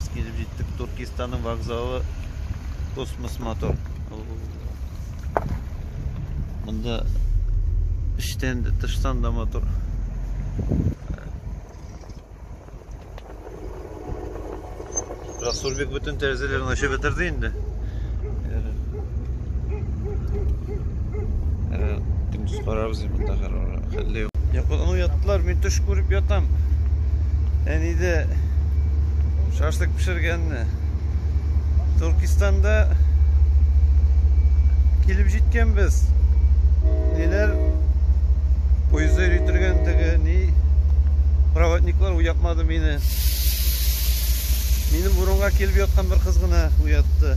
Без килеп җиттек Туркистанның вокзалы Космос Мотор. Монда эчтән дә, тыштан да мотор. Расулбек бөтен тәрәзәләрен ачып бетерде инде. Әле көндез карарбыз инде монда хәлле юк. Йокыдан уяттылар, мин төш күреп ятам. Әниде шашлык пешергәнне. Туркистанда килеп җиткәнбез. Ниләр поездда йөртергәндеге, ни проводниклар уятмады мине. Минем урынга килеп яткан бер кыз гына уятты.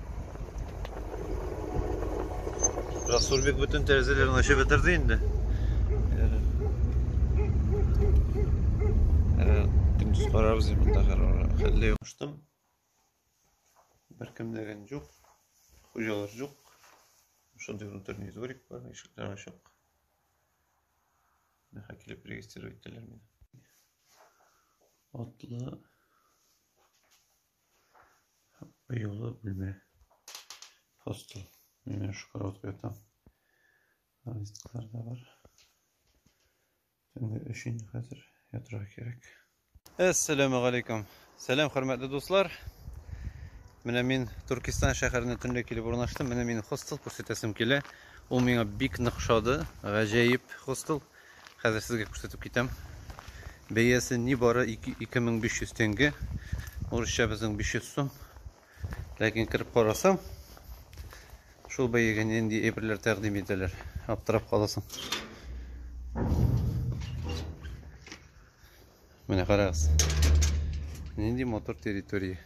Расулбек бөтен тәрәзәләрен ачып бетерде инде. Көндез карарбыз монда хәлле юк. Куштым. Беркем дәгән юк. Хуҗалар юк. Шундый внутренний дворик бар, ишекләр ачык. Миха килеп регистрировать итәләр мине. Атлы Ояла бүлмә. Хостел. Менә шу караватка ятам. Листлар да бар. Төнге өч инде хәзер ятырга кирәк. Әссәламу алейкум. Сәлам, хөрмәтле дуслар. Менә мин Туркестан шәһәренә төнлә килеп урнаштым. Менә мин хостел күрсәтәсем килә. Ул миңа бик нык шады. Гаҗәеп хостел. Хәзер сезгә күрсәтеп китәм. Бәясе ни бары 2500 тенге. Урысча безнең 500 сум. Ләкин кереп карасам, шул бәягә нинди әйберләр тәкъдим итәләр. Аптырап каласың. Менә карагыз. Нинди мотор территория.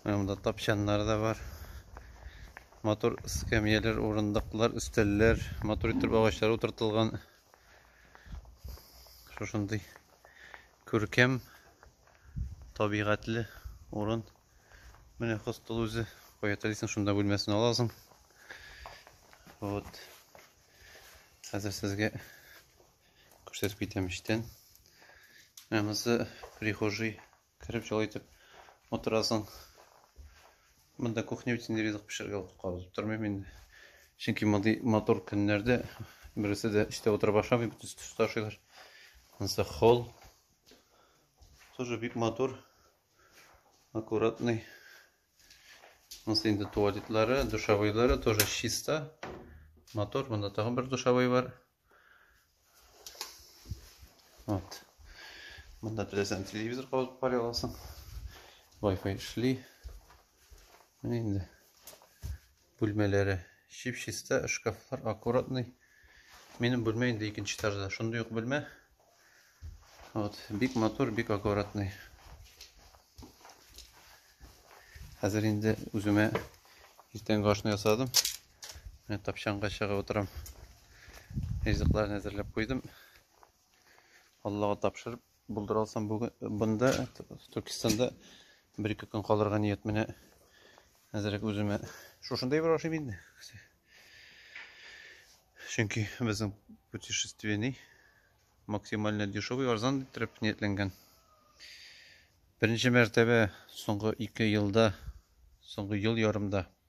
Монда тапчаннар да бар. Матур эскәмияләр, урындыклар, өстәлләр, матур итеп агачлар утыртылган. Шушындый күркәм, табигатьле урын. Менә хостел үзе. Кая телисең, шунда бүлмәсен аласың. Вот. Хәзер сезгә күрсәтеп китәм эчтән. Ә монысы прихожий Кереп җылы итеп утырасың. Монда кухня бит инде ризык пешерергә вакыт калып тормыйм инде. Чөнки мондый матур көннәрдә бересе дә эштә утырып ашамый, бөтенесе төс ташыйлар. Монысы холл. Тоже бик матур. Аккуратный. Монысы инде туалетлары, душевойлары тоже чисто. Мотор, монда тагын бер душевой бар. Вот. Монда теләсәң телевизор кабызып карый аласың. Wi-Fi эшли. Менә инде. Бүлмәләре чип-чиста, шкафлар аккуратный. Минем бүлмә инде икенче этажда. Шундый ук бүлмә. Вот, бик мотор, бик аккуратный. Хәзер инде үземә иртәнге ашны ясадым. Менә тапчанга чыгып утырам. Ризыкларын әзерләп куйдым. Аллага тапшырып булдыра алсам бүген бында Түркистанда бер ике көн калырга ният менә әзерәк үземә шушында ибрә ашыйм инде. Чөнки безнең путешественный максимально дешевый арзан иттереп ниятләнгән. Беренче мәртәбә соңгы 2 елда, соңгы ел ярымда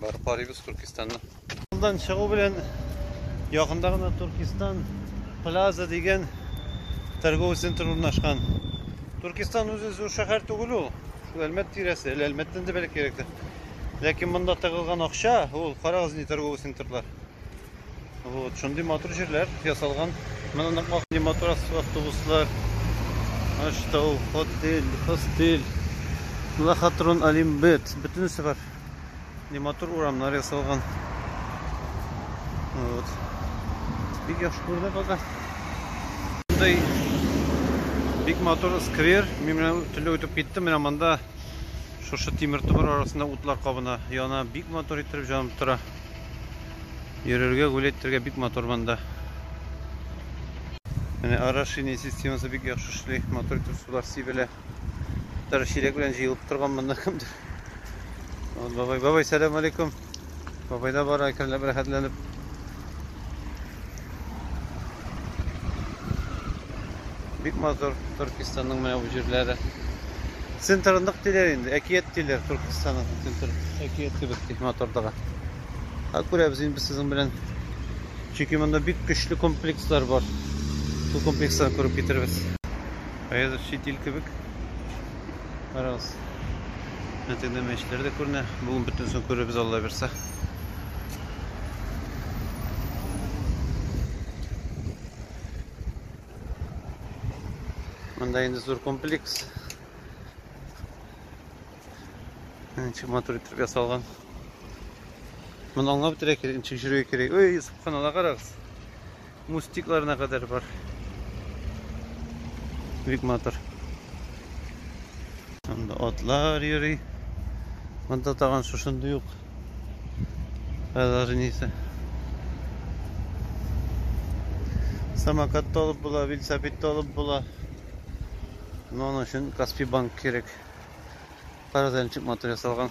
Барып карыйбыз Туркистанны. Мондан чыгу белән якында гына Туркистан Плаза дигән торговый центр урнашкан. Туркистан үзе зур шәһәр түгел ул. Шул Әлмәт тирәсе, әле Әлмәттән дә бәләкәйрәктер. Ләкин монда тыгылган акча, ул карагыз ни торговый центрлар. Вот, шундый матур җирләр ясалган. Менә нык махни матур автобуслар. Аштау, отель, хостель. Лахатрон Алимбет. Бөтенесе бар. Не матур урамнар ясалган. Вот. Бик яхшы күрде бага. Мондай бик матур сквер. Мин менә төнлә үтеп киттем. Менә монда шушы тимер томыр арасында утлар кабына. Яна бик матур иттереп җанып тора. Йөрергә, гүләйтергә бик матур монда. Менә орошение системасы бик яхшы эшли, матур итеп сулар сибелә. Тары чиләк белән җыелып торган монда кемдер. Вот бабай, бабай, сәлам алейкум. Бабай да бара, әкренләп рәхәтләнеп. Бик матур Төркистанның менә бу җирләре. Центр нык диләр инде, әкият диләр Төркистанның центр. Әкият кебек ди матурлыгы. Ха күрәбез инде сезнең белән. Чөнки монда бик көчле комплекслар бар. Бу комплексларны күреп китербез. Хәзер чит ил кебек. Карагыз. Әтегенә мәчетләр дә күренә. Бүген бөтенесен күрербез Алла бирсә. Монда инде зур комплекс. Ничек матур итеп ясалган. Моны аңлап бетерә кирәк, ничек йөрергә кирәк. Ой, суккан ала карагыз. Мустикларына кадәр бар. Бик матур. Анда атлар йөри. Монда тагын шушында юк. Алар нисе. Самокат толып була, велосипед толып була. Но аның өчен Каспи банк кирәк. Карадан чыкматыр ясалган.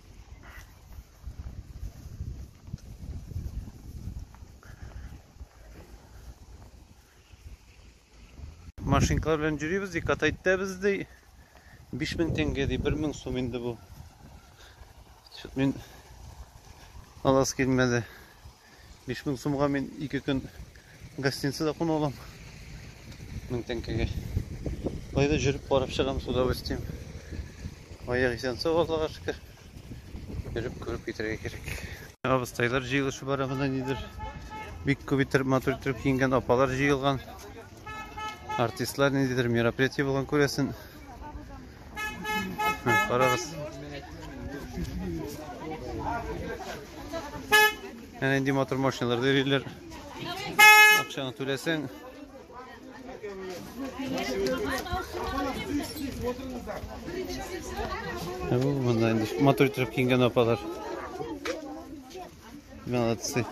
машинкалар белән йөрибез ди катайт та без ди биш мең теңге ди бер мең сум инде бу мин аласы килмәде Биш мең сумга мин ике көн гостиница да куна алам. Мең тәңкәгә. Кайда жүріп барып чыгам с удовольствием. Аяк исән сау Аллага шөкер. Йөреп күреп китәргә кирәк. Абыстайлар җыелышы бара монда нидер. Бик күп итеп матур итеп киенгән апалар җыелган. Артистлар ниндидер мероприятие булган күрәсен. Карагыз. Әнә инде мотор машиналар дөриләр. Акчаны түләсәң. Бу монда инде мотор итеп кингән апалар. Молодцы.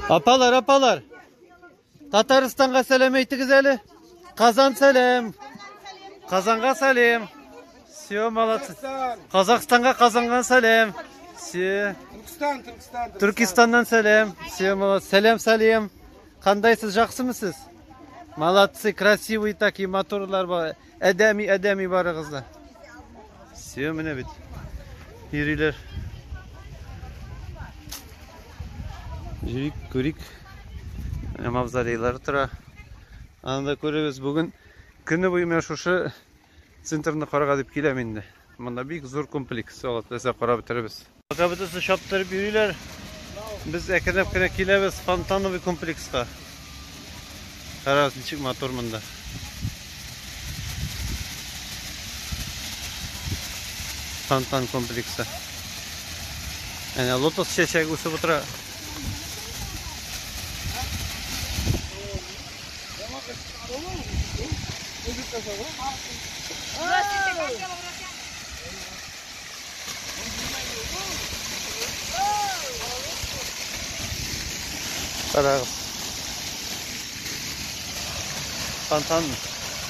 Апалар, апалар. Татарстанга сәлам әйтегез әле. Казан сәлам. Казанга сәлам. Все, молодцы. Казахстанга Казанга сәлам. Все. Түркстан, Түркстан. Түркистаннан сәлам. Все, молодцы. Сәлам, сәлам. Кандайсыз, жақсымы сіз? Молодцы, красивый такие моторлар бар. Әдәми, әдәми барыгыз да. Все, менә бит. Йөриләр. Җирик, күрик. Менә мавзолейлар тора. Анда күрегез, бүген көне буе менә шушы центрны карага дип киләм инде. Монда бик зур комплекс, алып, карап бетеребез. Пока бөтенесе чаптырып йөриләр. Без әкренләп кенә киләбез фонтановый комплекска. Карагыз, ничек мотор монда. Фонтан комплексы. Әнә лотос чәчәге үсеп утыра. Здравствуйте, как дела, братья? Карагыз. Тантан.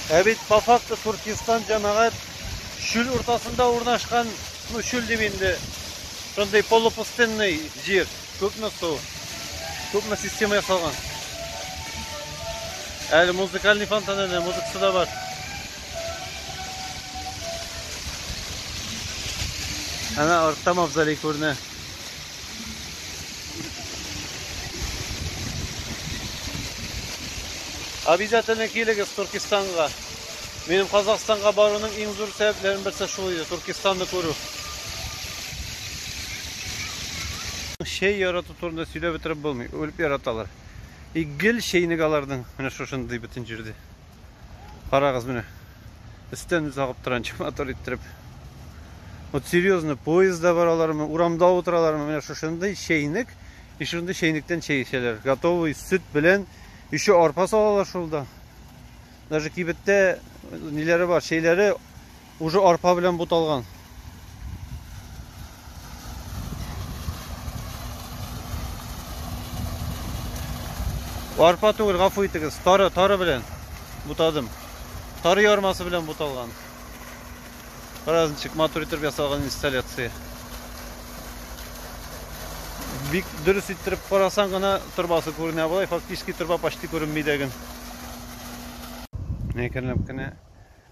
Ә бит по факту Туркестан җәмәгать чүл уртасында урнашкан, ну чүл дип инде, шундый полупустынный җир, күпме су, күпме система ясалган. Әле музыкальный фонтан әнә, музыкасы да бар. Әнә артта мавзолей күренә. Обязательно килегез Туркестанга. Минем Казахстанга баруның иң зур сәбәпләренең берсе шул иде, Туркестанны күрү. Чәй ярату турында сөйләп бетереп булмый, үлеп яраталар. И гел чәйнек аларның, менә шушындый бөтен җирдә. Карагыз менә. Өстән үз агып торган мотор иттереп. Вот серьезно поездда баралармы, урамда утыралармы, менә шушындый чәйнек, и шундый чәйнектән чәй эчәләр. Готовый сөт белән еще арпа салалар шулда. Даже кибеттә ниләре бар, чәйләре Уже арпа белән буталган. Арпа түгел, гафу итегез. Тары, тары белән бутадым. Тары ярмасы белән буталган. Карагыз ничек матур итеп ясалган инсталляция. Бик дөрес иттереп карасаң гына торбасы күренә болай, фактически торба почти күренмидәген. Әкренләп кенә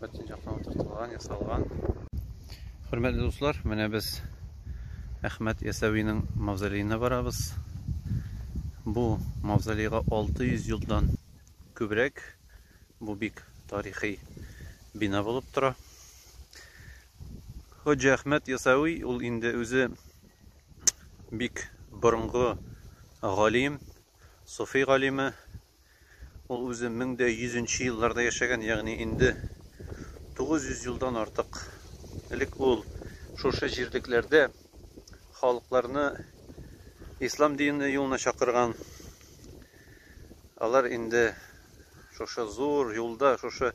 Бөтен яктан утыртылган, ясалган. Хөрмәтле дуслар, менә без Әхмәт Ясәвинең мавзолеена барабыз. Бу мавзолейга 600 елдан күбрәк. Бу бик тарихи бина булып тора. Хоҗа Әхмәт Ясәви ул инде үзе бик борынгы галим, суфи галиме, Ул үзе мең дә йөзенче елларда яшәгән, ягъни инде 900 елдан артык элек ул шушы җирлекләрдә халыкларны ислам дине юлына чакырган. Алар инде шушы зур юлда, шушы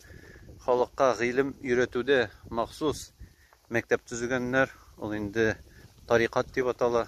халыкка гыйлем өйрәтүдә махсус мәктәп төзегәннәр. Ул инде тарикат дип атала.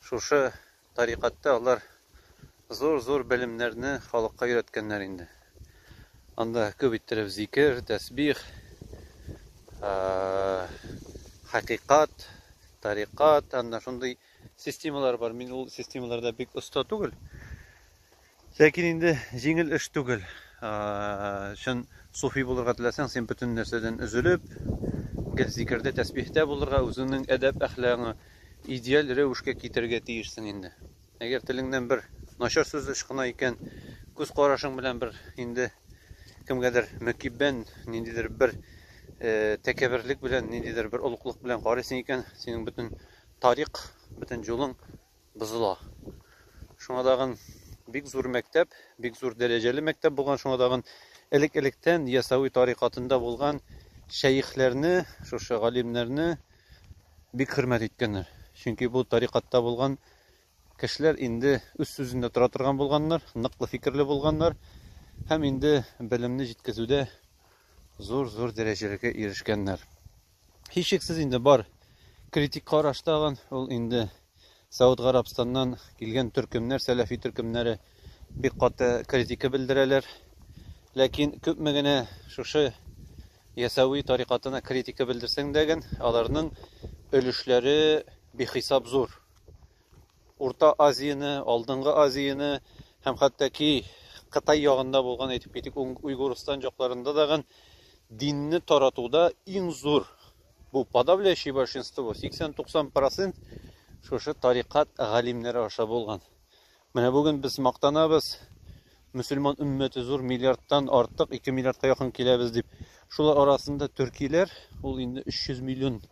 Шушы тарикатьтә алар зур-зур белемнәрне халыкка өйрәткәннәр инде. Анда күп иттереп зикер, тәсбих, хакыйкать, тарикать, анда шундый системалар бар, мин ул системаларда бик оста түгел. Ләкин инде җиңел эш түгел. Чын суфи булырга теләсәң, син бөтен нәрсәдән өзелеп, гел зикердә, тәсбихтә булырга, үзеңнең әдәп-әхлагыңны идеаль рәвешкә китерергә тиешсең инде. Әгәр телеңнән бер начар сүз ычкына икән, күз карашың белән бер инде кемгәдер мөкиббән, ниндидер бер тәкәбберлек белән, ниндидер бер олуглык белән карыйсың икән, синең бөтен тарих, бөтен юлың бозыла. Шуңа тагын бик зур мәктәп, бик зур дәрәҗәле мәктәп булган, шуңа тагын элек-электән Ясәви тарикатында булган шәехләрне, шушы галимнәрне бик хөрмәт иткәннәр. Чөнки бу тарикатта булган кешеләр инде үз сүзендә тора торган булганнар, ныклы фикерле булганнар һәм инде белемне җиткезүдә зур-зур дәрәҗәләргә ирешкәннәр. Һичшиксез инде бар критик караш тагын ул инде Сауд Гарабстаннан килгән төркемнәр, сәләфи төркемнәре бик каты критика белдерәләр. Ләкин күпме генә шушы ясәви тарикатына критика белдерсәң дә аларның өлешләре бихисап зур. Урта Азияне, Алдынгы Азияне һәм хәтта ки Кытай ягында булган, әйтеп китик, Уйгурстан җакларында дагын динне таратуда иң зур бу подавляющее большинство, 80-90 процент шушы тарикат галимнәре аша булган. Менә бүген без мактанабыз, мөселман өммәте зур, миллиардтан артык, 2 миллиардка якын киләбез дип. Шулар арасында төркиләр, ул инде 300 миллион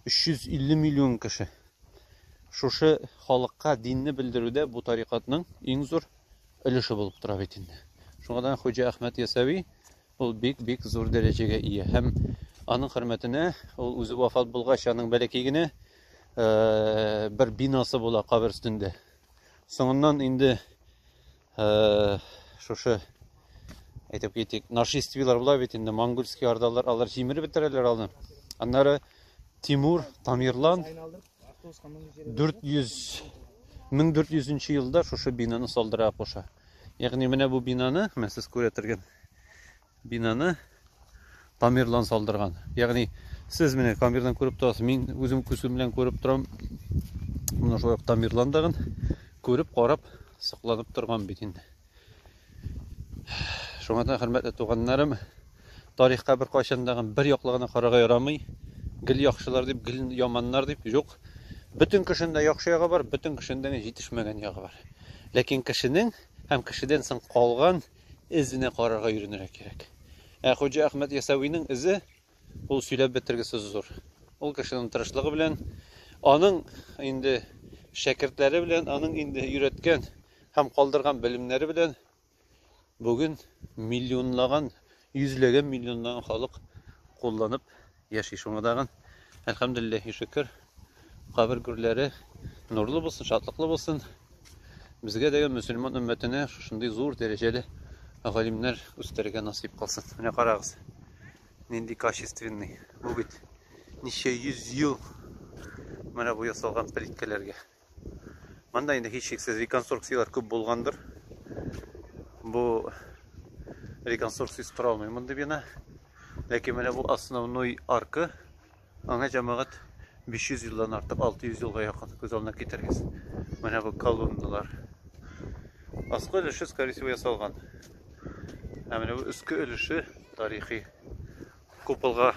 350 миллион кеше. Шушы халыкка динне белдерүдә бу тарикатның иң зур өлеше булып тора бит инде. Шуңадан Хуҗа Әхмәт Ясәви ул бик-бик зур дәрәҗәгә ия һәм аның хөрмәтенә ул үзе вафат булгач аның бәләкәй генә э, бер бинасы була кабер өстендә. Соңыннан инде Э, шушы әйтеп китик нашествийлар була бит инде монгольский ордалар алар җимереп бетерәләр алны аннары тимур тамирлан 400 1400 елда шушы бинаны салдыра куша ягъни менә бу бинаны мен сез күрә торган Бинаны камердан салдырган. Ягъни сез менә камердан күреп торасыз, мин үзем күзем белән күреп торам. Моны шулай ук камерландагын күреп карап сокланып торган бит инде. Шуңа да хөрмәтле туганнарым, тарихка бер кайчандагын бер яклы гына карарга ярамый. Гел яхшылар дип, гел яманнар дип юк. Бөтен кешендә яхшы ягы бар, бөтен кешендә җитешмәгән ягы бар. Ләкин кешенең һәм кешедән соң калган эзенә карарга өйрәнергә кирәк. Ә Хуҗа Әхмәт Ясәвинең эзе ул сөйләп бетергесез зур. Ул кешенең тырышлыгы белән, аның инде шәкертләре белән, аның инде өйрәткән һәм калдырган белемнәре белән бүген миллионлаган, йөзләгән миллионлаган халык кулланып Яши шуңа тагын. Әлхәмдүлилләһи шөкер. Кабер гүрләре нурлы булсын, шатлыклы булсын. Безгә дә мөселман өммәтенә шушындый зур дәрәҗәле галимнәр үстерергә насыйп кылсын. Менә карагыз. Нинди качественный. Бу бит ничә йөз ел менә бу ясалган плиткаларга. Монда инде һичшиксез реконструкцияләр күп булгандыр. Бу реконструкциясез тора алмый мондый бина. Ләкин менә бу основной арка. Аңа җәмәгать 500 елдан артык, 600 елга якын күз алдына китерегез. Менә бу колонналар. Аскы өлеше, скорее всего, ясалган. Ә менә бу өске өлеше тарихи. Куполга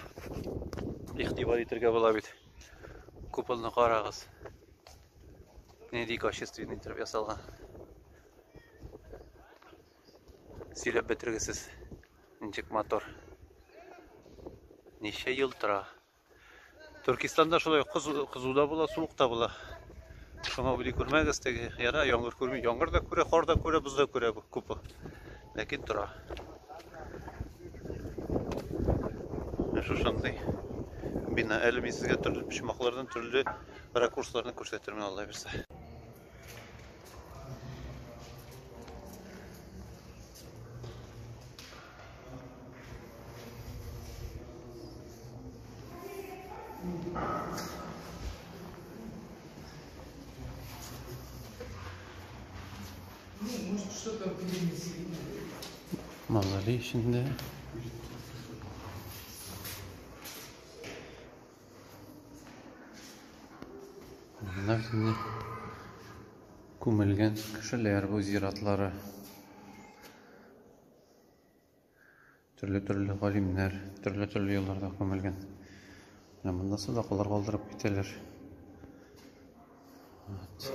игътибар итәргә була бит. Куполны карагыз. Нинди качественный итеп ясалган. Сөйләп бетергесез. Ничек мотор. Ничә ел тора. Төркистанда шулай кызуда була, суыкта була. Шуңа уйлый күрмәгез теге. Яра яңгыр күрми. Яңгыр да күрә, кар да күрә, боз да күрә бу купол. Ләкин тора. Ә шушындый бина. Әле мин сезгә төрле почмаклардан төрле ракурсларны күрсәтермен алла бирсә. Мазали эчендә. Монда инде күмелгән кешеләр бу зиратлары. Төрле-төрле галимнәр, төрле-төрле елларда күмелгән. Менә монда садакалар калдырып китәләр. Вот.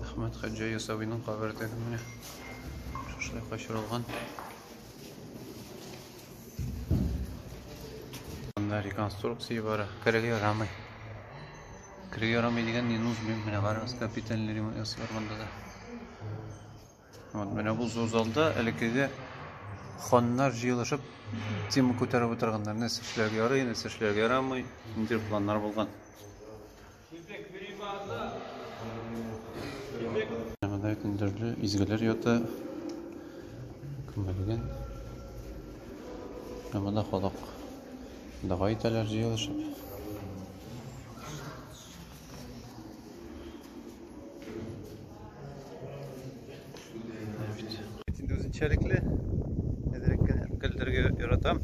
Әхмәт Хаҗа Ясавиның кабере теге менә. Шушлай качырылган. Анда реконструкция бара. Керергә ярамый. Кирәк ярамый дигән не нужно менә карагыз капитальный ремонт ясыйлар монда да. Вот менә бу зур залда элеккеге ханнар җыелышып тема күтәреп утырганнар. Нәрсә эшләргә ярый, нәрсә эшләргә ярамый, нинди планнар булган. Монда бит төрле изгеләр ята. Күмелгән. Ә монда халык Дога итәләр җыелышып. Инде үзенчәлекле әзрәк кенә көлдерергә яратам.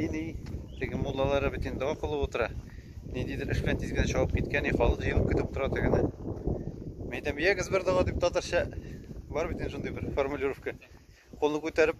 Ини теге муллалары бит инде дога кылып утыра. Ниндидер эш белән тиз генә чабып киткән, халык җыелып көтеп утыра тегене. Мин әйтәм, ягез бер дога дип татарча бар бит инде шундый бер формулировка. Кулны күтәреп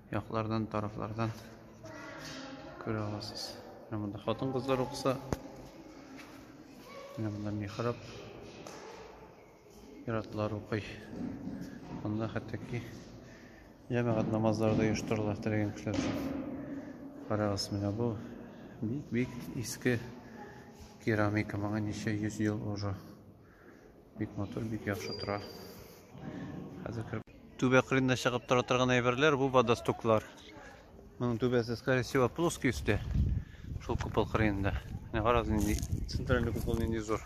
яклардан, тарафлардан күрә аласыз. Менә монда хатын-кызлар укыса. Менә монда михраб. Иратлар укый. Монда хәтта ки җәмәгать намазлары да оештырыла теләгән кешеләр өчен. Карагыз, менә бу бик-бик иске керамика, моңа ничә йөз ел уже. Бик матур, бик яхшы тора. Хәзер кереп түбә кырында чыгып тора торган әйберләр, бу водостоклар. Моның түбәсе, скорее всего, плоский өсте. Шул купол кырында. Менә карагыз нинди центральный купол нинди зур.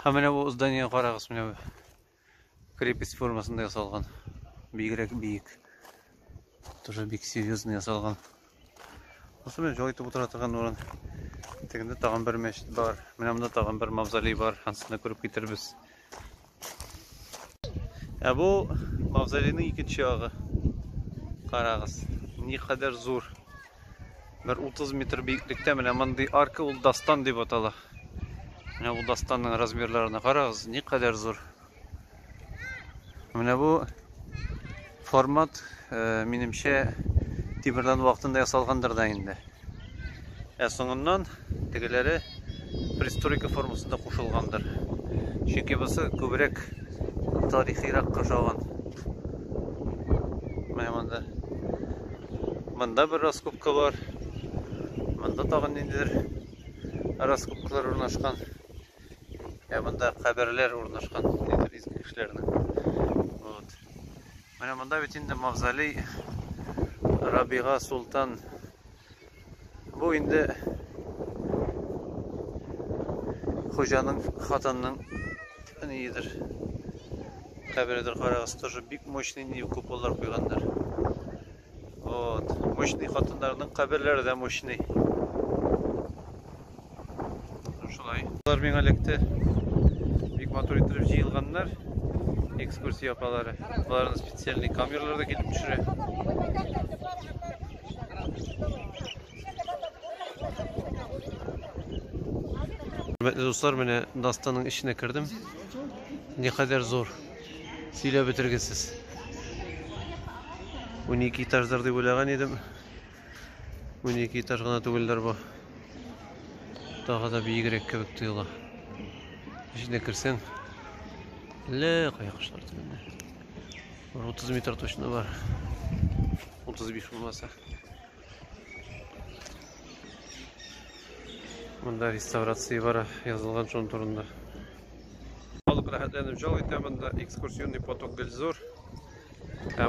Һәм менә бу здание карагыз, менә Крепость формасында ясалган. Бигрәк биек. Тоже бик серьезный ясалган. Осы белән җай итеп утыра торган урын. Тегендә тагын бер мәчет бар. Менә монда тагын бер мавзолей бар. Ансына күреп китербез. Ә бу мавзолейның икенче ягы. Карагыз, никадәр зур. Бер 30 метр биеклектә менә мондый арка ул дастан дип атала. Менә бу дастанның размерларына карагыз, ни кадәр зур. Менә бу формат, э, минемчә, тимердан вакытында ясалгандыр да инде. Ә соңыннан Тегеләре пристройка формасында кушылгандыр. Чөнки бусы күбрәк тарихирак кушалган. Менә монда. Монда бер раскопка бар. Монда тагын ниндидер раскопкалар урнашкан. Ә монда каберләр урнашкан, ниндидер изге кешеләрнең. Вот. Менә монда бит инде мавзолей Рабига Султан Бу инде хуҗаның хатынның ниедер. Кабередер карагыз, тоже бик мощный ни куполлар куйганнар. Вот, мощный хатыннарның каберләре дә мощный. Шулай. Алар миңа эләкте. Бик матур иттереп җыелганнар. Экскурсия апалары. Аларны специальный камераларда килеп төшерә. Хөрмәтле дуслар, менә Дастанның эченә кердем. Никадәр зур. Сөйләп бетергесез. 12 этаждар дип уйлаган идем. Унике этаж гына түгелдер бу. Тагы да биегрәк кебек тоела. Эченә керсәң, әллә кая кошлар төбендә. 30 метр точно бар. 35 булмаса. Монда реставрация бара язылган шон турында. Халык рәхәтләнеп жал итә монда экскурсионный поток гел зур. Ә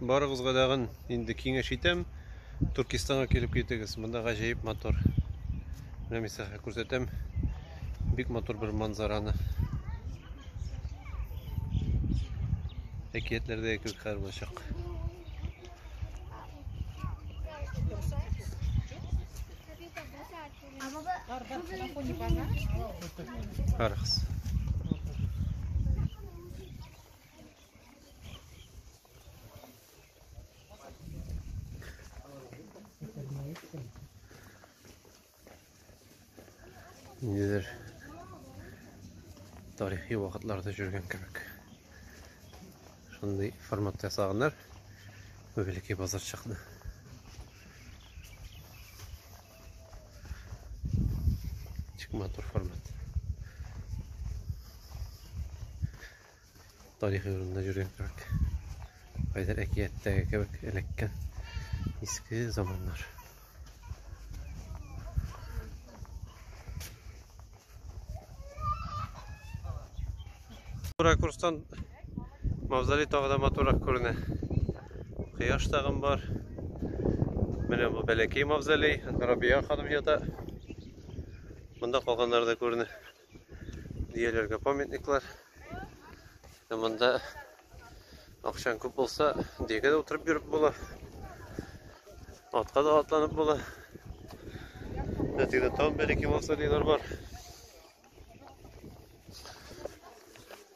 Барыгызга дагын инде киңәш итәм. Туркистанга килеп китегез. Монда гаҗәеп мотор. Менә мисалга күрсәтәм. Бик мотор бер манзараны. Әкиятләрдә кебек хәл булачак. Карагыз. Нидер тарихи вакытларда жүргән кебек. Шундый форматта ясаганнар. Великий базар чыкты. Чик матур формат. тарихи урында йөргән кебек. Кайдыр әкияттәге кебек эләккән иске заманнар. Ракурстан мавзолей тагы да матуррак күренә. Кояш тагын бар. Менә бу бәләкәй мавзолей, Рабия ханым ята. Монда калганнары да күренә. дөяләргә памятниклар. Ә монда акчаң күп булса, дөягә дә утырып йөреп була. Атка да атланып була. Әтегедә тагын бер-ике мавзолейлар бар.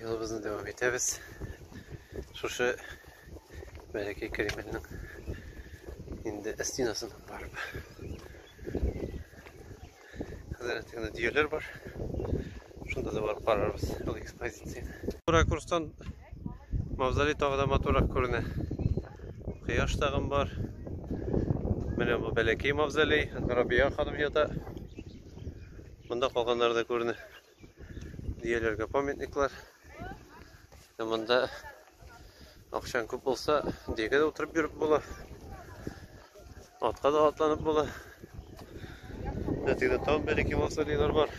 Юлыбызны дәвам итәбез. Шушы бәләкәй Кремльнең инде стенасыннан барып. Хәзер тегендә дөяләр бар. Шунда да барып карарбыз ул экспозицияне. Ракурстан Мавзолей тагы да матуррак күренә. Кояш тагын бар. Менә бу бәләкәй мавзолей, анда Рабия ханым ята. Монда калганнары да күренә. Дияләргә памятниклар. Ә монда акчаң күп булса, диягә дә утырып йөреп була. Атка да атланып була. Әтегедә тагын бәләкәй мавзолейлар бар.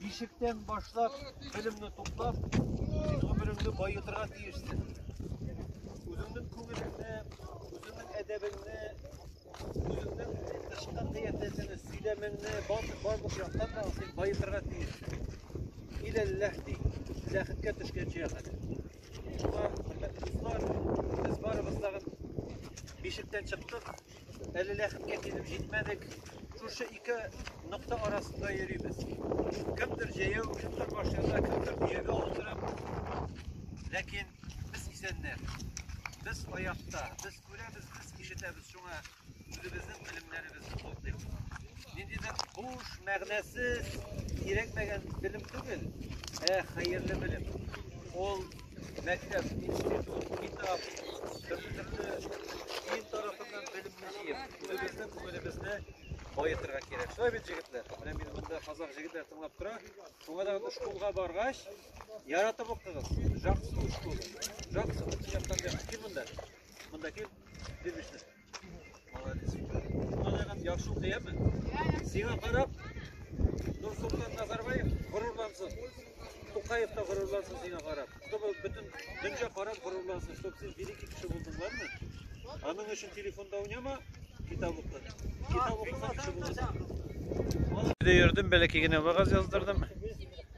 Бишектән башлап, белемне туплап, син гомереңне баетырга тиешсең. Үзеңнең күңелеңне, үзеңнең әдәбеңне, үзеңнең тышкы кыяфәтеңне, сөйләмеңне барлык яктан да син баетырга тиешсең. Иләлләһ ди, ләхеткә төшкәнче хәзер. Шуңа, хөрмәтле дуслар, без барыбыз тагын бишектән чыктык. Әле ләхеткә килеп җитмәдек. Шушы ике нокта арасында йөрибез. Кемдер җәяү, кемдер машинада, кемдер төягә утырып. Ләкин без исәннәр. Без аякта, без күрәбез, без ишетәбез. Шуңа үзебезнең белемнәребезне туплыйк. Ниндидер буш, мәгънәсез, кирәкмәгән белем түгел, ә хәерле белем. Ул Мәктәп, институт, китап, төрле-төрле дин тарафыннан белемне җыеп, үзебезне, күңелебезне баетырга кирәк. Шулай бит, җегетләр? Менә мин монда казак җегетләр тыңлап тора. Шуңа да школга баргач, яратып укыгыз. Жаксы школа. Жаксы, бу яктан кил монда. Монда кил. Димешне. Яхшы укыяме? Сиңа карап, Нурсултан Назарбаев горурлансын. Тукаев та горурлансын сиңа карап. Чтобы бөтен дөнья карап горурлансын, чтобы син великий кеше булдың, ладно? Аның өчен телефонда уйнама, китап укы. Китап укыса кеше буласың. Йөрдем, бәләкәй генә вагаз яздырдым.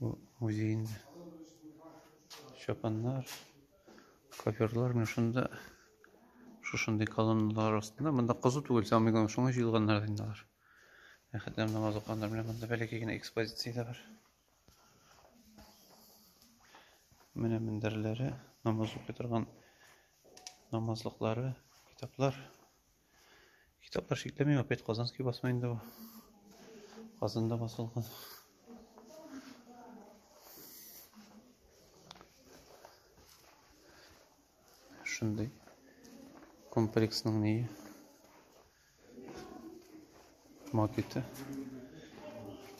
Бу музейный чапаннар, коверлар мен шунда шушындый колонналар астында. Монда кызу түгел, самый главное, шуңа җыелганнар инде алар. Әхәтләр намаз укыганнар белән монда бәләкәй генә экспозиция дә бар. Менә мендәрләре, намаз укый торган намазлыклары, китаплар. Китаплар шикләмим, опять Казанский басма инде бу. Казанда басылган. Шундый комплексның нее. Макеты.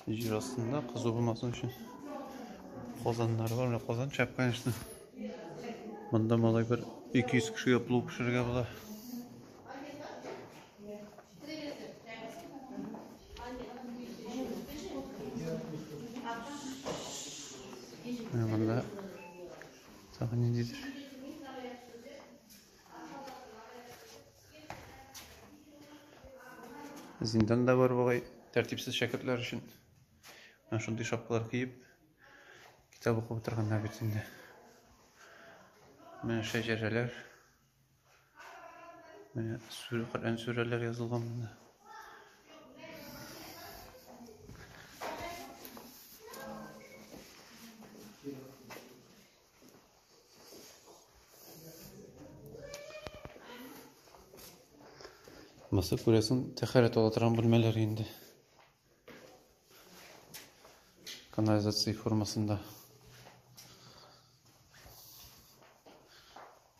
Җир астында кызу булмасын өчен казаннар бар. Менә казан чәп, конечно. Монда малай бер 200 кешегә плов пешерергә була. Менә монда тагын ниндидер Зиндан да бар бугай, тәртипсез шәкертләр өчен. Менә шундый шапкалар киеп, китап укып утырганнар бит инде. Менә шәҗәрәләр. Менә сүрә, Коръән сүрәләр язылган монда. Мысы күрәсен тәхәрәт ала торган бүлмәләр инде. Канализация формасында.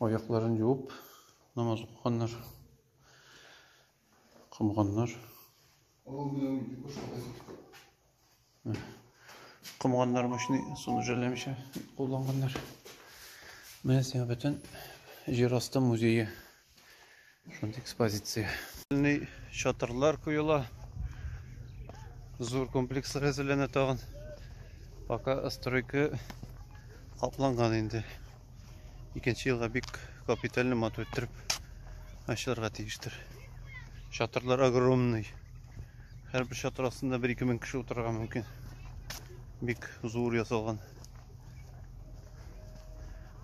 Аякларын юып, намаз укыганнар. Комганнар. Комганнар мощный, суны жәлләмичә кулланганнар. Менә сиңа бөтен җир асты музее. Шундый экспозиция. Чатырлар куела. Зур комплекслар әзерләнә тагын. Пока стройка капланган инде. икенче елга бик капитальный матур иттереп ачылырга тиештер. Чатырлар огромный. Һәрбер чатыр астында 1-2 мең кеше утырырга мөмкин. Бик зур ясалган.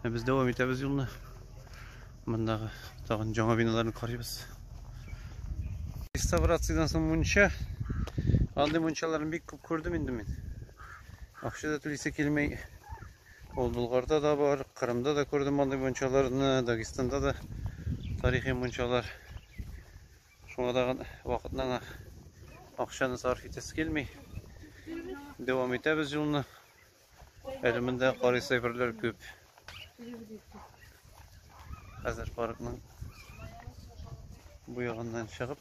Ә без дәвам итәбез юлны. Мондагы тагын жаңа биналарны карыйбыз. Реставрациядән соң мунча. Андый мунчаларны бик күп күрдем инде мин. Акча да түлисе килмәй Ул Болгарда да бар, Кырымда да күрдем андый мунчаларны, Дагестанда да тарихи мунчалар. Шуңа тагын вакытны гына акчаны сарыф итәсе килми. Дәвам итәбез юлны. Әле монда карыйс әйберләр күп. Хәзер паркның бу ягыннан чыгып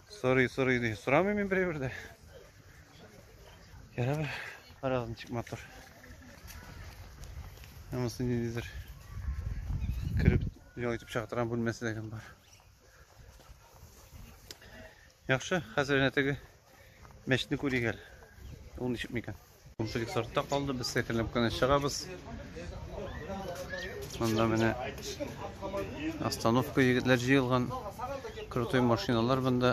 Сорый, сорый ди. Сорамыйм мин берәй бердә. Ярар бер. Карагыз ничек мотор. Һәммәсе ниндидер. Кереп ял итеп чыга торган бүлмәсе дә бар. Яхшы, хәзер нәтеге мәчетне күрик әле. Ул ничек микән? Комплекс артта калды, без сәкерләп кенә чыгабыз. Монда менә остановка егетләр җыелган. Крутой машиналар монда.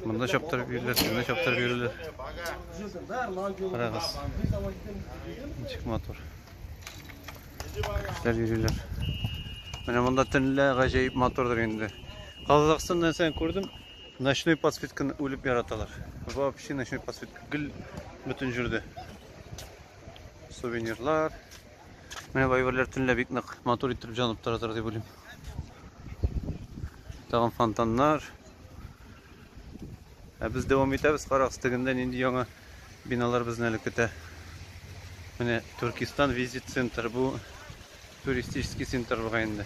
Монда чаптырып йөриләр, шунда чаптырып йөриләр. Карагыз. Ничек матур. Кешеләр йөриләр. Менә монда төнлә гаҗәеп матурдыр инде. Казахстаннан сән күрдем. Ночной подсветканы үлеп яраталар. Вообще ночной подсветка гел бөтен җирдә. Сувенирлар. Менә бу әйберләр төнлә бик нык матур иттереп җанып торатыр дип уйлыйм. Тагын фонтаннар. Ә без дәвам итәбез, карагыз, тегендә нинди яңа биналар безне әле көтә. Менә Туркистан визит центр, бу туристический центр була инде.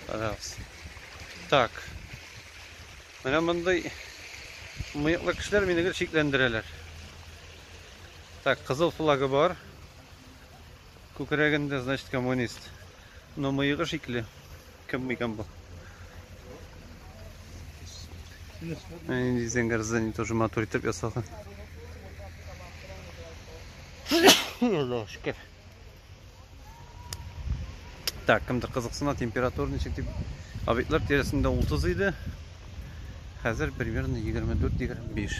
Раз. Так. Менә мондый мыеклы кешеләр мине гел шикләндерәләр. Так, кызыл флагы бар. Күкрәгендә, значит, коммунист. Но мыегы шикле. Кем микан бу? Нинди зәңгәр здание тоже матур итеп ясалган. Аллаһ шөкер. Так, кемдер кызыксына температура ничек дип. Объектлар тирәсендә 30 иде. Хәзер примерно 24-25.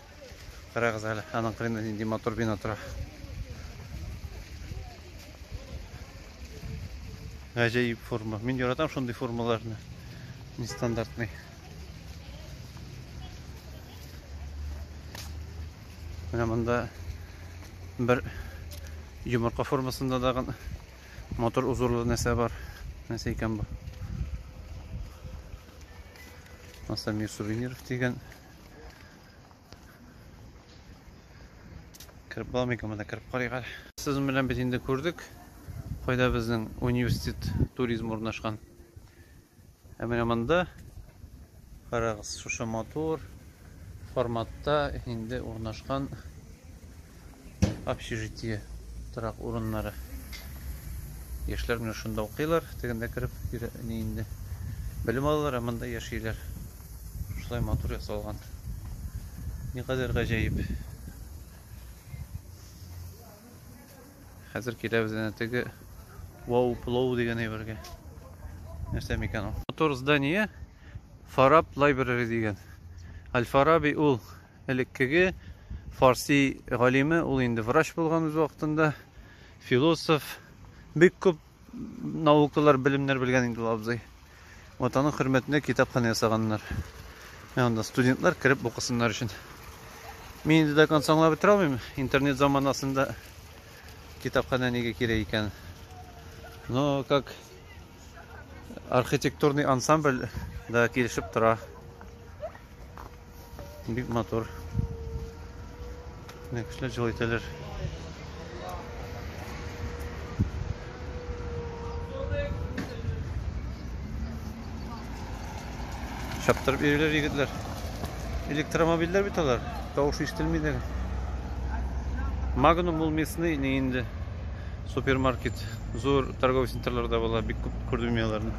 Карагыз әле, аның кырында нинди матур бина тора. Гаҗәеп форма. Мин яратам шундый формаларны. Нестандартный. Менә монда бер йомырка формасында дагы матур узорлы нәрсә бар. Нәрсә икән бу? Масамир сувениров дигән Кереп буламы икән монда кереп карыйк әле. Сез белән без инде күрдек. Кайда безнең университет туризм урнашкан. Ә менә монда карагыз, шушы матур форматта инде урнашкан общежитие торак урыннары яшьләр менә шунда укыйлар тегендә кереп не инде белем алалар ә монда яшиләр шулай матур ясалган никадәр гаҗәеп хәзер киләбез әнә теге вау плоу дигән әйбергә нәрсә микән ул матур здание фараб лайбрери дигән аль фараби ул Элеккеге фарси галиме, ул инде врач булган үз вакытында, философ, бик күп наукалар, белемнәр белгән инде ул абзый. Вот аның хөрмәтенә китапханә ясаганнар. Ә анда студентлар кереп укысыннар өчен. Мин инде до конца аңлап бетерә алмыйм, интернет заманасында китапханә нигә кирәк икән. Но как архитектурный ансамбль да килешеп тора. Бик матур. Менә кешеләр җылы итәләр. Чаптырып йөриләр егетләр. Электромобильләр бит алар. Тавыш ишетелми дә. Магнум ул местный инде. Супермаркет, зур торговый центрларда була, бик күп күрдем мин аларны.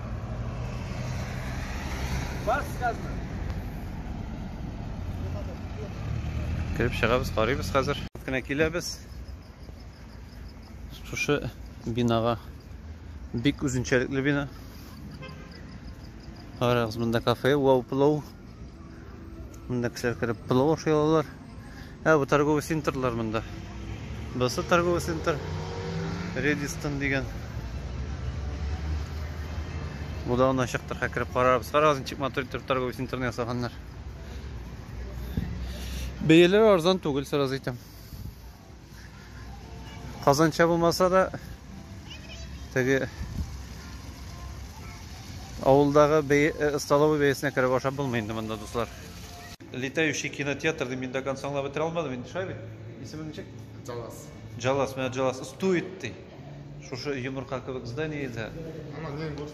Кереп чыгабыз, карыйбыз хәзер. Кенә киләбез. Шушы бинага бик үзенчәлекле бина. Карагыз, монда кафе, вау, плоу. Монда кешеләр кереп пылау ашый алалар. Ә бу торговый центрлар монда. Басы торговый центр Редистон дигән. Бу да ана чыктыр, хәкереп карарбыз. Карагыз, ничек матур итеп торговый центрны ясаганнар. Бәяләр арзан түгел, сразу әйтәм. Казанча булмаса да, теге авылдагы э, столовый бәясенә кереп ашап булмый инде монда, дуслар. Летающий кинотеатрны мин до конца аңлап бетерә алмадым инде, шулай бит? Исеме ничек? Джалас. Джалас, менә Джалас стует ди. Шушы йомырка кебек зданиедә. Ана, не, вот,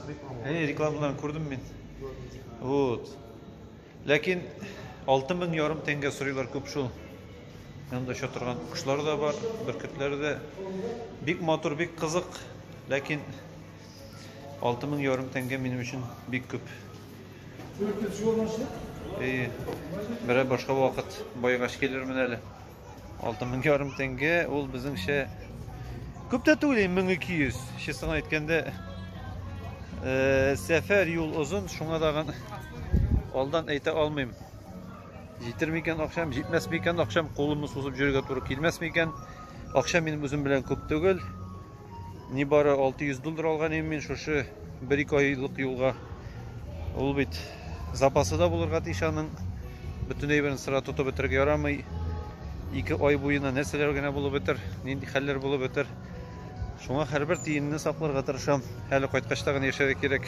реклама. Э, рекламаларын күрдем мин. Вот. Ләкин алты мең ярым тәңгә сорыйлар күп шул. Янда оча торган кошлар да бар, бөркетләр дә. Бик матур, бик кызык. Ләкин алты мең ярым тәңгә минем өчен бик күп. Бөркет җуанашы? Э, берәр башка вакыт байгач килермен әле. Алты мең ярым тәңгә, ул безнеңчә күп тә түгел, 1200. Честно әйткәндә, э, сәфәр юл озын, шуңа тагын алдан әйтә алмыйм. Җитер микән акчам, җитмәс микән акчам, кулымны сузып җөргә туры килмәс микән? Акча минем үзем белән күп түгел. Нибары 600 доллар алган идем мин шушы 1-2 айлык юлга. Ул бит запасы да булырга тиеш аның. Бөтен әйберен сыра тотып бетерергә ярамый. 2 ай буена нәрсәләр генә булып бетер, нинди хәлләр булып бетер. Шуңа һәрбер тиенне сакларга тырышам. Әле кайткач та гына яшәргә кирәк.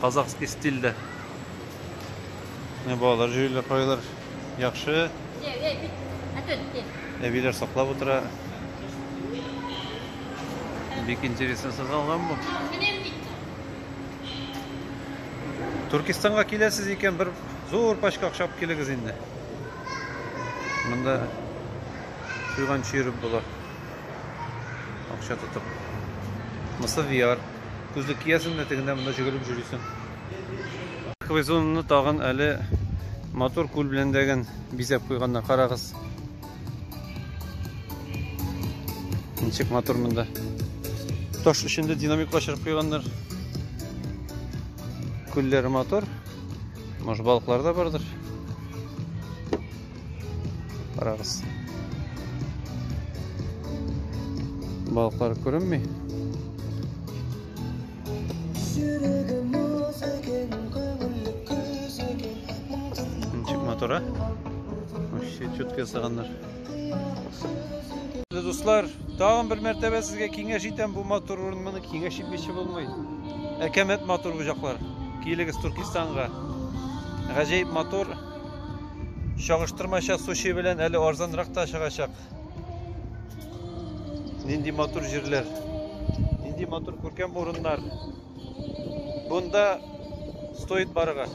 Казахский стильдә. Менә балалар җөелә кайылар. Яхшы. Әбиләр саклап утыра. Бик интересно сызгалган бу. Туркистанга киләсез икән, бер зур пачка акча алып килегез инде. Монда туйганчы йөреп була. Акча тотып. Мысы VR. Күзлек киясең дә тегендә монда җөгелеп җөрисең. Парковый зонаны тагын әле матур күл белән дәген бизәп куйганнар. Карагыз. Ничек матур монда. Таш эчендә динамик качырып куйганнар. Күлләре матур. Может балыклар да бардыр. Карагыз. Балыклар күренми. Ничек мотора? Вообще четко ясаганнар. Дуслар, тагын бер мәртәбә сезгә киңәш итәм, бу мотор урын моны киңәш итмичә булмый. Әкәмәт мотор бу җаклар. Килегез Туркстанга. Гаҗәеп мотор. Чагыштырмача суши белән әле арзанрак та чыгачак. Нинди матур җирләр. Нинди матур күркәм урыннар. Бунда стоит барырга.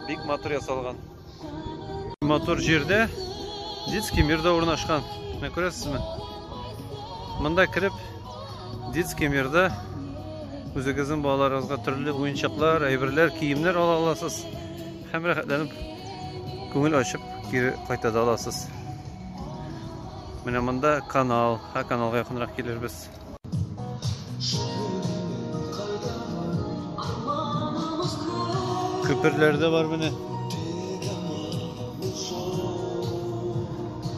Бик матур ясалган. Матур җирдә детский мир да урнашкан. Менә күрәсезме? Монда кереп Детский мирда үзегезнең балаларыгызга төрле уенчыклар, әйберләр, киемнәр ала аласыз һәм рәхәтләнеп күңел ачып кире кайта да аласыз. Менә монда канал, һә каналга якынрак килербез. Күперләр дә бар менә.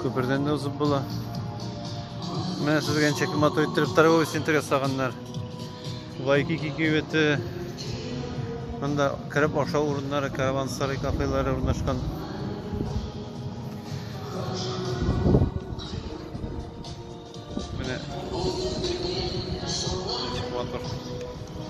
Күпердән дә узып була. Менә сезгә ничек матур иттереп торговый центр ясаганнар. Вайкики кибете. Монда кереп ашау урыннары, каравансарай кафелары урнашкан. Менә. Ничек матур.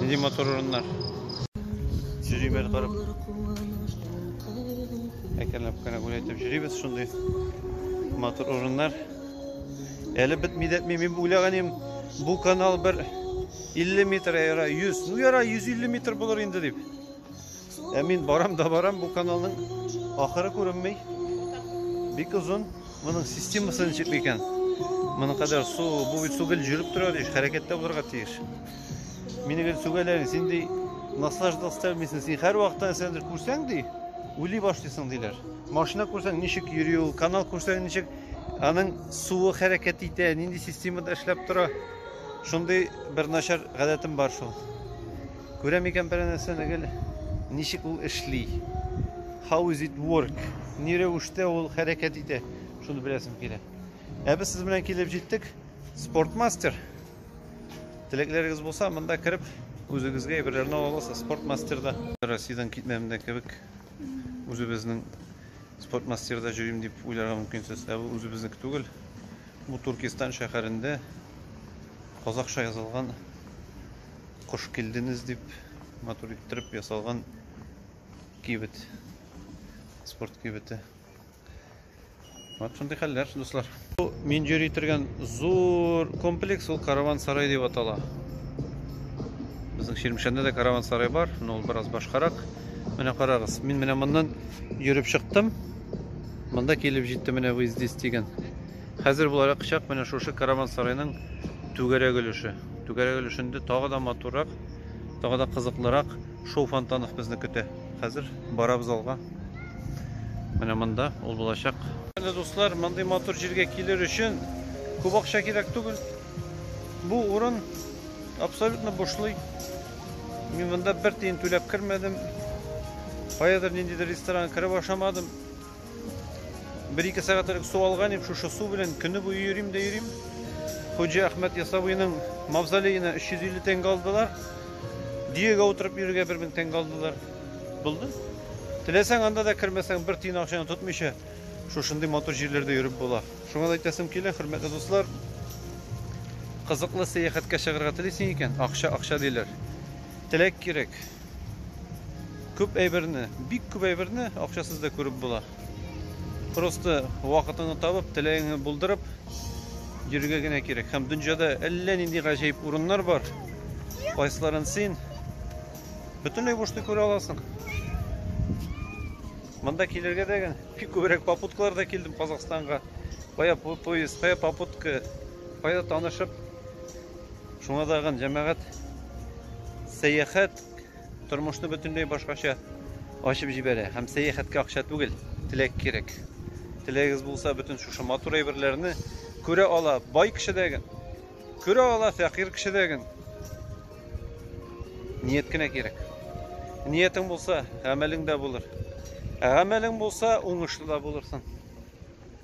Нинди матур урыннар. Җөрибез барып. Әкренләп кенә гүләйтеп җөрибез шундый матур урыннар. Әле бетми дәтми мин уйлаган идем, бу канал бер 50 метр яра 100. Ну яра 150 метр булыр инде дип. Ә мин барам да барам, бу каналның ахыры күренми. Бик озын. Моның системасы ничек микән? Моның кадәр су, бу бит су гел жүреп тора тиеш, хәрәкәттә булырга тиеш. Мине гел сүгәләр, син ди наслаждал стәлмисең, син һәр вакытта нәрсәдер күрсәң ди, уйлый башлыйсың диләр. Машина күрсәң ничек йөри ул, канал күрсәң ничек аның суы хәрәкәт итә, нинди системада эшләп тора. Шундый бер начар гадәтем бар шул. Күрәм икән берәр нәрсәне гел. Ничек ул эшли? How is it work? Ни рәвештә ул хәрәкәт итә? Шуны беләсем килә. Ә без сез белән килеп җиттек. Спортмастер. Теләкләрегез булса, монда кереп үзегезгә әйберләрне ала аласыз. Спортмастерда. Россиядән китмәдем дә кебек. Үзебезнең спортмастерда җөрим дип уйларга мөмкинсез. Ә бу үзебезнеке түгел. Бу Туркестан шәһәрендә казахша язылган Кош килденез дип матур иттереп ясалган кибет. Спорт кибете. Вот шундый хәлләр, дуслар. Бу мин йөри торган зур комплекс ул караван сарай дип атала. Безнең Чирмешәндә дә караван сарай бар, но ул бераз башкарак. Менә карагыз, мин менә моннан йөреп чыктым. Монда килеп җитте менә вы здесь дигән. Хәзер буларак чак менә шушы караван сарайның түгәрәк өлеше. Түгәрәк өлешендә тагы да матуррак, тагы да кызыклырак шоу фонтанов безне көтә. Хәзер барабыз алга. Менә монда ул булачак. Менә дуслар, мондый матур җиргә килер өчен күп акча кирәк түгел. Бу урын абсолютно бушлый. Мин монда бер тиен түләп кермәдем. Каядыр ниндидер ресторан кереп ашамадым. Бер-ике сәгать элек су алган идем, шушы су белән көне буе йөрим дә йөрим. Хуҗа Әхмәт Ясавыйның мавзолеена 350 тәңгә алдылар. Диегә утырып йөрергә 1000 тәңгә алдылар. Булды. Теләсәң анда да кермәсәң, бер тиен акчаны тотмыйча, шушындый матур җирләрдә йөреп була. Шуңа да әйтәсем килә, хөрмәтле дуслар, кызыклы сәяхәткә чыгарга телисең икән, акча акча диләр. Теләк кирәк. Күп әйберне, бик күп әйберне акчасыз да күреп була. Просто вакытыңны табып, теләгеңне булдырып йөрергә генә кирәк. Һәм дөньяда әллә нинди гаҗәеп урыннар бар. Кайсыларын син бөтенләй бушта күрә аласың. Монда килергә дә генә бик күбрәк попуткаларда килдем Казахстанга. Кая поезд, кая попутка, кая танышып Шуңа тагын җәмәгать сәяхәт тормышны бөтенләй башкача ачып җибәрә һәм сәяхәткә акча түгел, теләк кирәк. Теләгегез булса, бөтен шушы матур әйберләрне күрә ала бай кеше дәген, күрә ала фәкыйрь кеше дәген. Ният кенә кирәк. Ниятең булса, гамәлең дә булыр. Ә гамәлең булса, уңышлы да булырсың.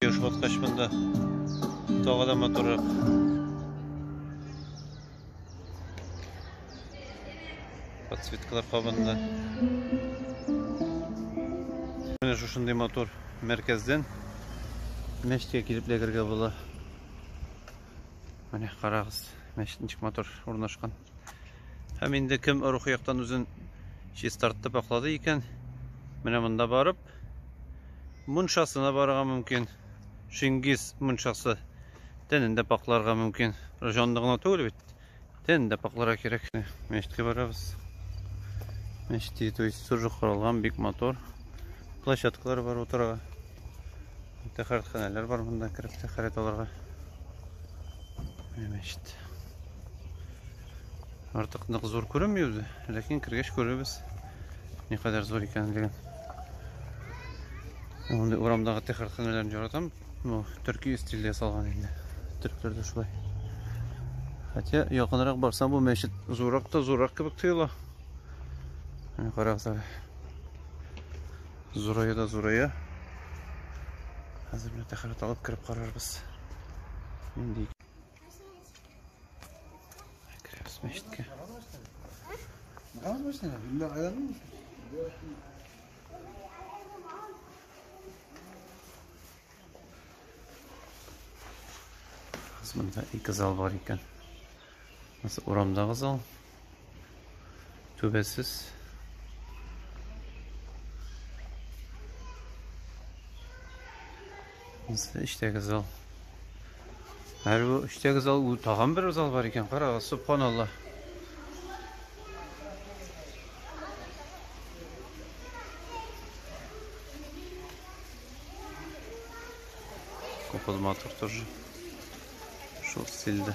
Ешбаткач монда тагы да матуррак. Подсветкалар кабынды. Менә шушындый мотор мәркәздән мәчеткә килеп ләгергә була. Менә карагыз, мәчет ничек матур урнашкан. Һәм инде кем рухи яктан үзен чистартып аклады икән, менә монда барып, мунчасына барырга мөмкин. Шингиз мунчасы тәнен дә пакларга мөмкин. Җанны гына түгел бит, тәнен дә пакларга кирәк. Мәчеткә барабыз. Мәчеткә то есть сүржү корылган, бик матур. Площадкалар бар утырырга. Тәхәрәтханәләр бар монда кереп тәхәрәт алырга. Мәчет. Артык нык зур күренми үзе, ләкин кергәч күрербез, никадәр зур икәнлеген. Мондый урамдагы тәхәрханәләрен яратам. Ну, төрки стильдә ясалган инде. Төрекләрдә шулай. Хотя якынрак барсам бу мәчет зуррак та зуррак кебек тоела. Менә карагыз әле. Зурая да зурая. Хәзер менә тәхәрәт алып кереп карарбыз. Нинди Мәчеткә. Намаз башлана. Биллә айламый. Монда ике зал бар икән. Урамдагы зал. Түбәсез. Монсы эчтәге зал. Һәр бу эчтәге зал, ул тагын бер зал бар икән. Карагыз, субханалла. Купылматыр тоже. Шул стильдә.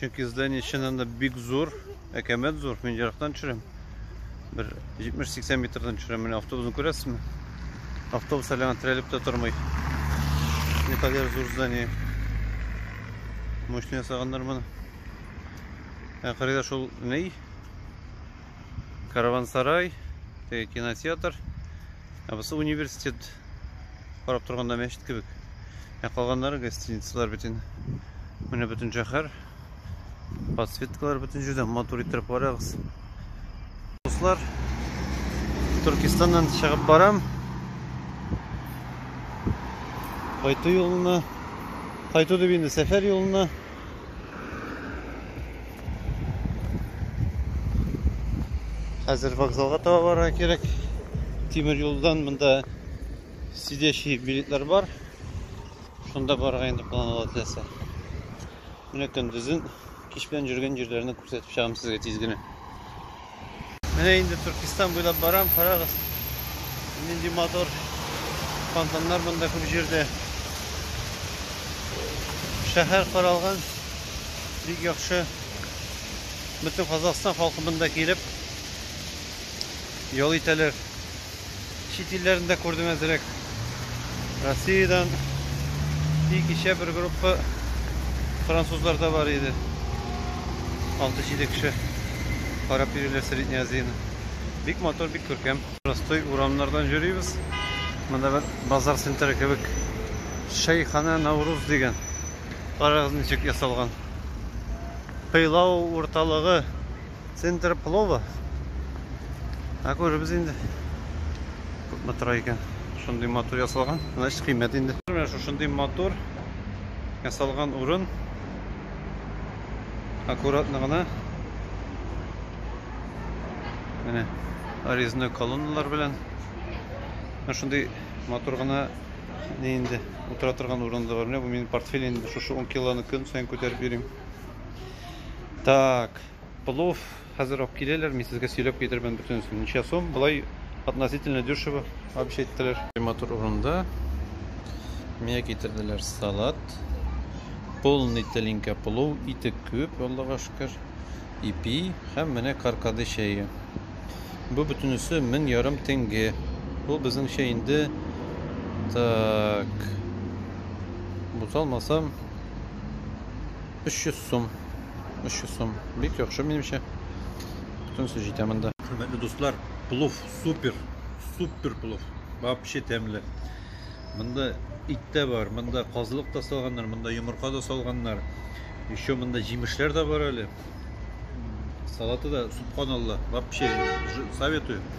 Чөнки здание чыннан да бик зур, әкәмәт зур. Мин ерактан төшерәм. Бер 70-80 метрдан төшерәм. Менә автобусны күрәсезме? Автобус әле аңа терәлеп тә тормый. Не кадәр зур здание. Мощный ясаганнар моны. Ә кырыйда шул ней? Каравансарай, теге кинотеатр. Ә бусы университет карап торганда мәчет кебек. Ә калганнары гостиницалар бөтен. Менә бөтен шәһәр. Подсветкалар бөтен җирдә матур иттереп карагыз. Дуслар, Төркистаннан чыгып барам. Кайту юлына, кайту дип инде сәфәр юлына Хәзер вокзалга таба барырга кирәк. Тимер юлдан монда сидящий билетлар бар. Шунда барырга инде план ала теләсә. Менә көндезен кич белән йөргән җирләрне күрсәтеп чыгам сезгә тиз генә. Менә инде Төркистан буйлап барам, карагыз. Нинди мотор. Фонтаннар монда күп җирдә. Шәһәр каралган. Бик яхшы. Бөтен Казахстан халкы монда килеп ял итәләр. чит илләрен дә күрдем әзрәк. Россиядән и кичә бер группа французлар да бар иде. 6-7 кеше карап йөриләр Средняя Азияны. Бик матур, бик күркәм. Простой урамнардан йөрибез. Монда бер базар центры кебек. Шәйхана Навруз дигән. Карагыз ничек ясалган. Пыйлау урталыгы Центр плова. Ә күребез инде. Күпме тора икән. Шундый матур ясалган. Значит, кыйммәт инде. Менә шушындый матур ясалган урын. Аккуратно гына. Менә резной колонналар белән. Менә шундый матур гына не инде утыра торган урын да бар. Менә бу минем портфель инде. Шушы 10 килоны көн саен күтәреп йөрим. Так. Плов хәзер алып киләләр, мин сезгә сөйләп китермен бөтенесен. Ничә сум? Болай относительно дешево, вообще әйттеләр. Матур урында мия китерделәр салат. Полный тәлинкә плов, ите күп, Аллага шөкер. Ипи һәм менә каркады чәе. Бу бөтенесе мең ярым тенге. Бу безнеңчә инде так. Буталмасам 300 сум. 300 сум. Бик яхшы минемчә. Бөтенесе җитә монда. Хөрмәтле дуслар, плов супер. Супер плов. Вообще тәмле. Монда ит тә бар, монда казылык та салганнар, монда йомырка да салганнар. Еще монда җимешләр дә бар әле. Салаты да, субханалла. Вообще советую.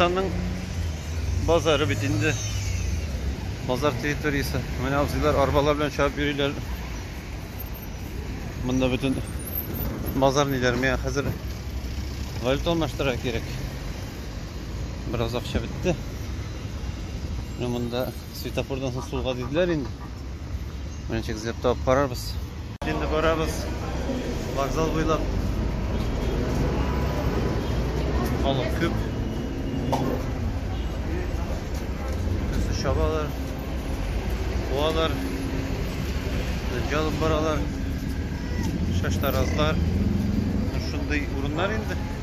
Татарстанның базары бит инде. Базар территориясе. Менә абзыйлар арбалар белән чабып йөриләр. Монда бөтен базар ниләр миңа хәзер валюта алмаштырырга кирәк. Бераз акча бетте. Менә монда Светофордан соң сулга диделәр инде. Менә чек эзләп табып карарбыз. Инде барабыз. Вокзал буйлап. Халык күп. Төсі шабалар. Куалар. Дөнҗә алып баралар. Шаштаразлар. Шундый урыннар инде.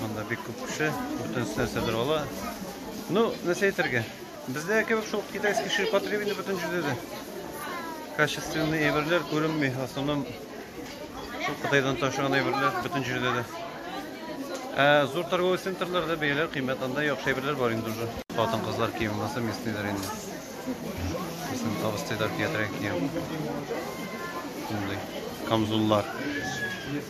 Монда бик күп кеше, бөтенесе нәрсә дер ала. Ну, нәрсә әйтергә? Бездә кебек шул китайский ширпотребине бөтен җирдә дә. Качественный әйберләр күренми, в основном шул Кытайдан ташыган әйберләр бөтен җирдә дә. Ә зур торговый центрларда бәяләр кыйммәт, анда яхшы әйберләр бар инде уже. Хатын-кызлар киеме булса, местныйлар инде. Безнең абыстайлар киятергән кием. Шундый камзуллар.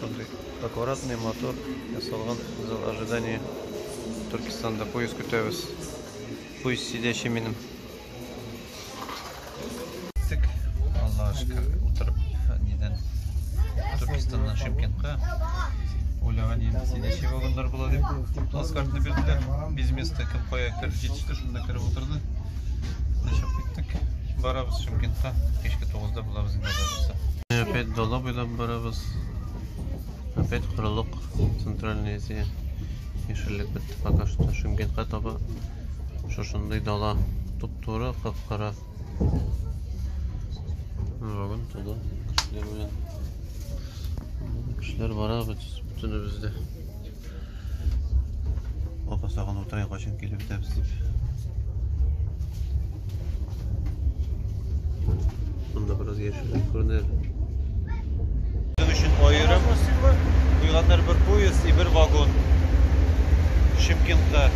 Шундый аккуратный, матур ясалган зал ожидания. Төркстанда поезд көтәбез. Поезд сидячи минем. Тик, Алла шөкер, утырып нидән Төркстаннан Шимкентка уйлаган инде сидячи вагоннар була дип. Плацкартны бирделәр. Без место кем кая кереп җитеште, шунда кереп утырды. Ашап киттек. Барабыз Шымкентка. Кичке 9-да булабыз инде барабызда. Опять дала буйлап барабыз. Опять корылык Центральная Азия. Яшеллек бетте пока что. Шымкентка таба шушындый дала. Туп-туры, кап-кара. Бүгін тулы кешелер белән. Кешелер барабыз, бөтенебез дә. Апа сагын утырайын, качан килеп бетәбез дип. Монда бераз яшеллек күренер. Безнең өчен аерым куйганнар бер поезд и бер вагон. Шымкентта.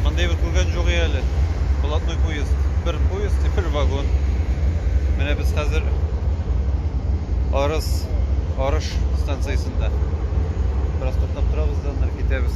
Мондый бер күргән юк әле. Блатной поезд. Бер поезд и бер вагон. Менә без хәзер Арыс Арыш станциясендә. вакытта. Бераз туктап торабыз да, ныр китәбез.